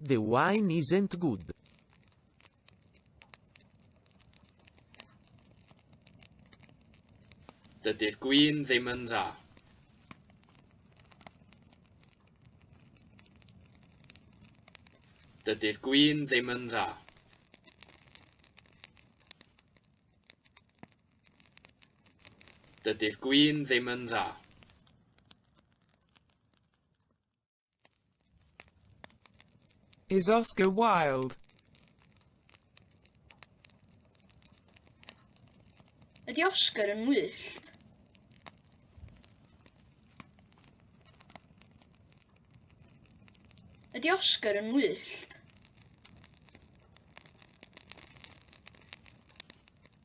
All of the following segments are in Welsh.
The wine isn't good. Dydy'r gwin ddim yn dda. Dydy'r gwin ddim yn dda. Dydy'r gwin ddim yn dda. Is Oscar Wilde? Ydy Oscar yn ngwyllt? Ydy Oscar yn ngwyllt?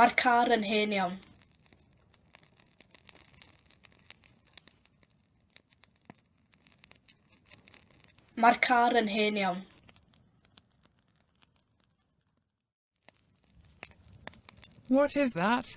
Mae'r car yn hen iawn. Mae'r car yn hen iawn. What is that?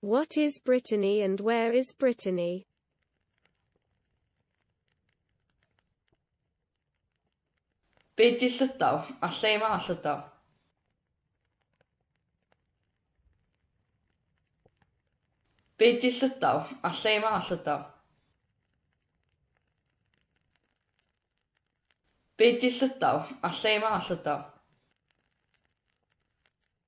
What is Brittany and where is Brittany? Be di Llydaw a lle mae Llydaw? Be di Llydaw a lle mae Llydaw? Be di Llydaw a lle mae Llydaw?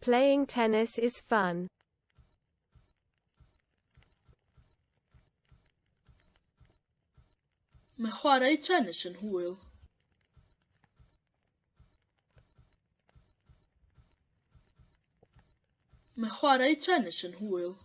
Playing tennis is fun. Mae chwarae tennis yn hwyl. Mae chwarae tennis yn hwyl.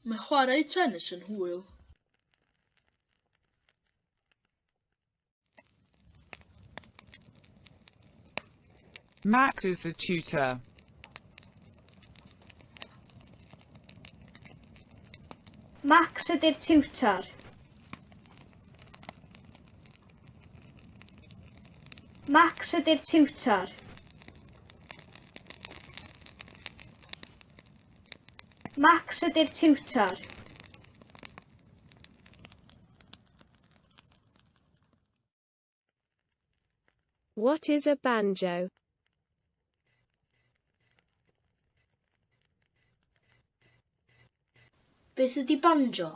Mae chwarae tenis yn hwyl. Max is the tutor. Max ydy'r tiwtor. Max ydy'r tiwtor. Max ydy'r tiwtor. What is a banjo? Beth ydy banjo?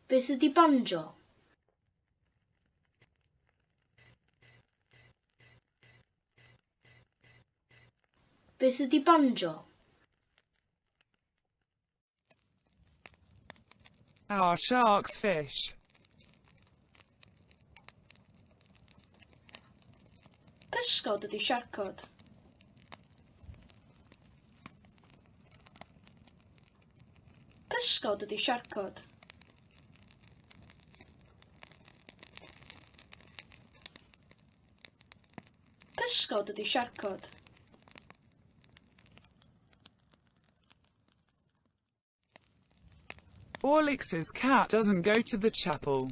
Beth ydy banjo? Beth ydy banjo? Are sharks fish? Pysgod ydy siarcod. Pysgod ydy siarcod. Pysgod ydy siarcod. Alex's cat doesn't go to the chapel.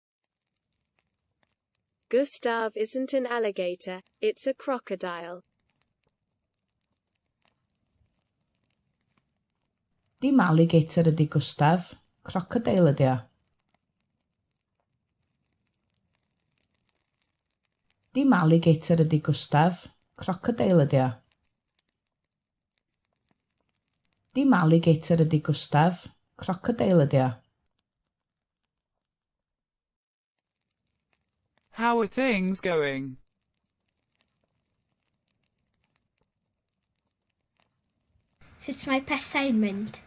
Gustav isn't an alligator, it's a crocodile. Dim alligator ydi Gustav, crocodile ydi o. Dim alligator ydi Gustav, crocodile ydi o. Dim alligator ydi Gustav, crocodile ydi o. How are things going? Sut mae pethau'n mynd?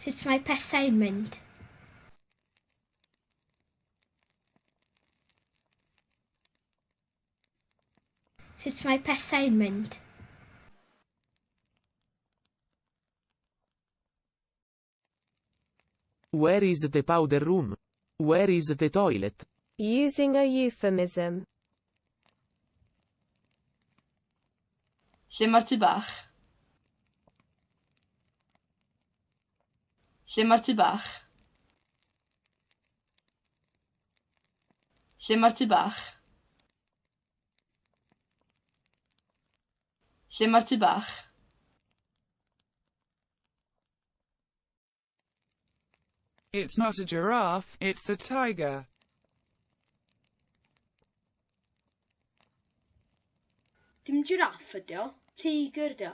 Sut mae pethau'n mynd? Sut mae pethau'n mynd? Where is the powder room? Where is the toilet? Using a euphemism. Lle mae'r tŷ bach? Lle mae'r tŷ bach? Lle mae'r tŷ bach? Lle mae'r tŷ bach? It's not a giraffe, it's a tiger. Dim jiraff ydi o, teigr ydi o.